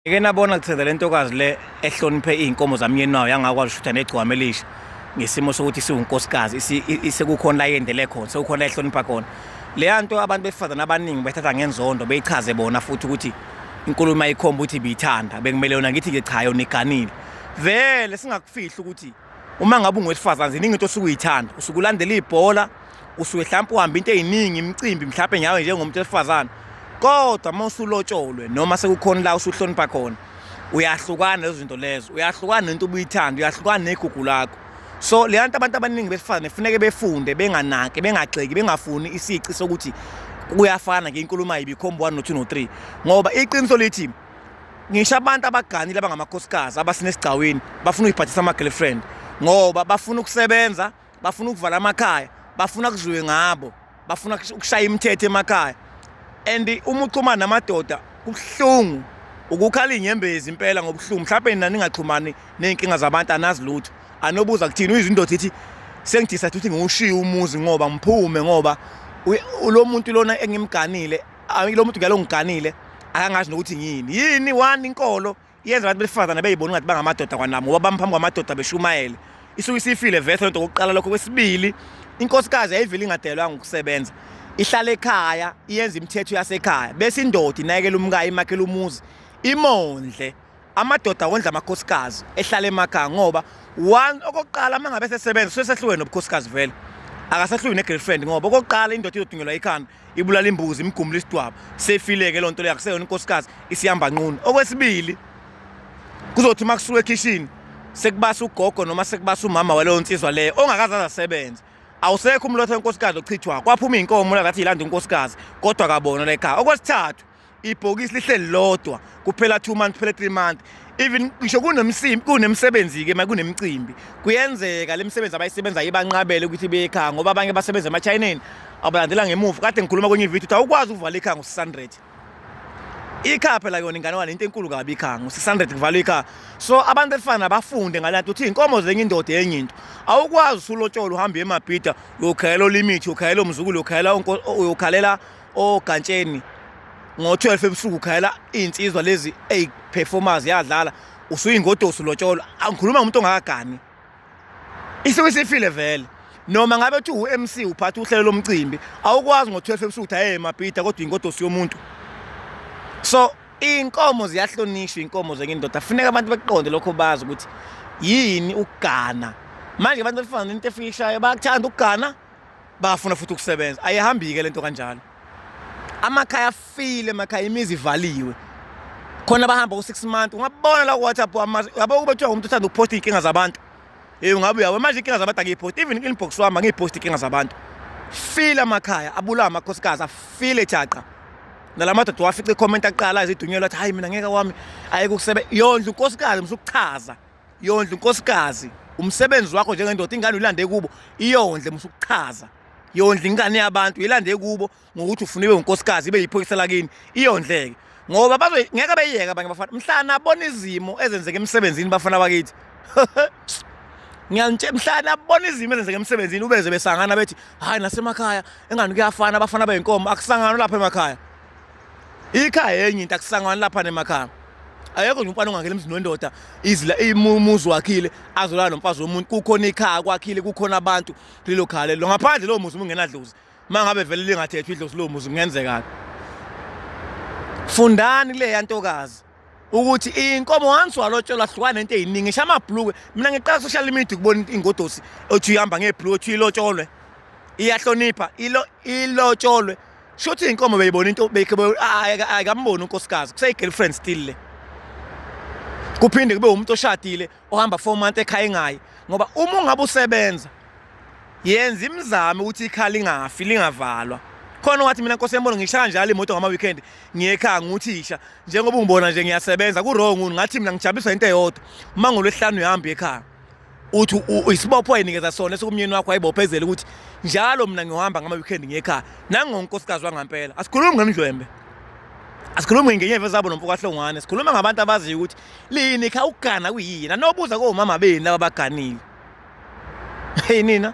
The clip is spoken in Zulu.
Ngeke nabona kutheza le ntokazi le ehloniphe iy'nkomo zamyeni wayo yangakwazi ushutha negcwama elisha ngesimo sokuthi siwunkosikazi sekukhona la yendele khona sekukhona la ehlonipha khona leya nto abantu besifazane abaningi bethatha ngenzondo beyichaze bona futhi ukuthi inkulumo ayikhomba ukuthi biyithanda bekumele yona ngithi-ke cha yona iganile vele singakufihli ukuthi uma ngabe ungowesifazane ziningi into osuke uyithanda usuke ulandela ibhola usuke mhlawumbe uhamba into eziningi imicimbi mhlawumbe nyawe njengomuntu wesifazane kodwa uma usulotsholwe noma sekukhona la usuhlonipha khona uyahlukana lezo zinto lezo uyahlukana nento ubuyithanda uyahlukana negugu lakho so le nto abantu abaningi besifazane kufuneke befunde benganaki bengagxeki bengafuni isici sokuthi kuyafana ngenkulumo ayibikhomba 1 no 2 no 3 ngoba iqiniso lithi ngisho abantu abaganile abangamakhosikazi abasinesigcawini bafuna ukuyibhathisa ama-girlfriend ngoba bafuna ukusebenza bafuna ukuvala amakhaya bafuna kuzwiwe ngabo bafuna ukushaya imithetho emakhaya and uma uxhumana namadoda kubuhlungu ukukhala inyembezi impela ngobuhlungu mhlawumbe nina ningaxhumani ney'nkinga zabantu anazi lutho anobuza kuthini uyizwa indoda ithi sengidisa ukuthi ngiwushiye umuzi ngoba ngiphume ngoba lo muntu lona engimganile Ayi lo muntu ngiyangiganile akangazi nokuthi ngiyini yini one inkolo yenza abantu besifazane beyibona ngathi bangamadoda kwanami ngoba bamphambi kwamadoda beshumayele isuke isifile vese lento kokuqala lokho kwesibili inkosikazi yayivile ingadelwa ngokusebenza ihlala ekhaya iyenza imithetho yasekhaya bese indoda inayekela umkayo imakhela umuzi imondle amadoda wondla amakhosikazi ehlala emakhaya ngoba one okokuqala uma ngabe sesebenza sesehlukene nobukhosikazi vele akasahlukene ne-girlfriend ngoba okokuqala indoda izodungelwa ikhanda ibulala imbuzi imgumula isidwaba sefileke lonto leyo akuseyona inkosikazi isihamba nqunu okwesibili kuzothi uma kusuka ekhishini sekubasa ugogo noma sekubasa umama waleyo nsizwa leyo ongakaze azasebenze awusekho umlotha wenkosikazi ochithwa kwaphuma iy'nkomo la ngathi yilanda unkosikazi kodwa kabona la ekhaya okwesithathu ibhokisi lihleli lodwa kuphela 2 months kuphela 3 months even ngisho kunemsimbi kunemisebenzi ke makunemicimbi kuyenzeka lemisebenzi abayisebenza ibanqabele ukuthi bekhaya ngoba abanye basebenza emachineni abalandela ngemuva kade ngikhuluma kwenye video ukuthi awukwazi ukuvala ikhaya ngo-600 ikhaya phela yona ingane wani into enkulu kabi ikhaya ngo-600 kuvalwa ikhaya so abantu efana bafunde ngalanto ukuthi iy'nkomo zenye indoda enye into awukwazi usulotshola uhambe emabhida uyokhayela olimithi uyokhayela umzukulu uyokhayela uyokhalela ogantsheni ngo-12 ebusuku khayela iy'nsizwa lezi eyi-performers yadlala usuyingodosi lotsholwa angikhuluma ngomuntu ongakagani isuke isifile vele noma ngabe kuthi u-mc uphatha uhlelo lomcimbi awukwazi ngo-12 ebusuku ukuthi ayeye mabhida kodwa ingodosi yomuntu so iy'nkomo ziyahlonishwa iy'nkomo zenye indoda funeka abantu bekuqonde lokho bazi ukuthi yini ukugana manje abantu befana nento efika ishayo bayakuthanda ukugana bafuna futhi ukusebenza ayihambike lento kanjalo amakhaya afile emakhaya imizi ivaliwe khona bahamba ku-six month ungabona la ku-whatsapp yabo kube kuthiwa umuntu uthanda ukuphosta iy'nkinga zabantu ey ungabe uyawe manje iy'nkinga zabantu angiyiphosti even inbox wami angiyiphosti iy'nkinga zabantu file amakhaya abulawa amakhosikazi afile thaqa nala madoda wafica ikhomenti aqala ezidunyelwa athi hhayi mina ngeke wami ayeke ukusebe yondla unkosikazi msukuchaza yondla unkosikazi umsebenzi wakho njengendoda ingane uyilande kubo iyondle musa ukuchaza yondla ingane yabantu yilande kubo ngokuthi ufuna ibe unkosikazi ibe yiphoyisa lakini iyondleke ngoba bazo ngeke beyiyeka abanye bafana mhlana abona izimo ezenzeka emsebenzini bafana bakithi ngiyanitshe mhlana abona izimo ezenzeka emsebenzini ubeze besangana bethi hayi nasemakhaya engani kuyafana abafana beyinkomo akusangana lapha emakhaya ikhaya enye into akusangani lapha nemakhaya ayekho nje umfana ongangena emzini wendoda izila imuzi wakhile azolala nomfazi womuntu kukhona ikhaya kwakhile kukhona abantu kulelo khaya lelo ngaphandle lowo muzi ungenadlozi uma ngabe vele lingathethwa idlozi lowo muzi kungenzekani fundani kuleya ntokazi ukuthi inkomo once walotshelwa hlukana into eyiningi ngisho amabhulukwe mina ngiqala social media ukubona ingodosi othi uyihamba ngebhulukwe othi uyilotsholwe iyahlonipha ilo ilotsholwe shuthi inkomo beyibona into ayikamboni unkosikazi kuseyigirlfriend still le kuphinde kube umuntu oshadile ohamba four month ekhaya engayi ngoba uma ungabe usebenza yenza imizamo ukuthi ikhala ingafi lingavalwa khona wathi mina nkosi yembona ngishaya njalo imoto ngama weekend ngiyekhaya nguthisha njengoba ungibona nje ngiyasebenza ku wrong ngathi mina ngijabiswa into eyodwa uma ngolwesihlanu uyahamba ekhaya uthi isibopho ayinikeza sona esikumnyeni wakho ayibophezele ukuthi njalo mina ngihamba ngama weekend ngiyekhaya nangonkosikazi wangampela asikhulumi ngemdlwembe asikhulumi ngenyeva zabo nomfokahlongwane sikhuluma ngabantu abaziyo ukuthi lini kha ukugana kuyina nobuza komama beni laba baganile hey nina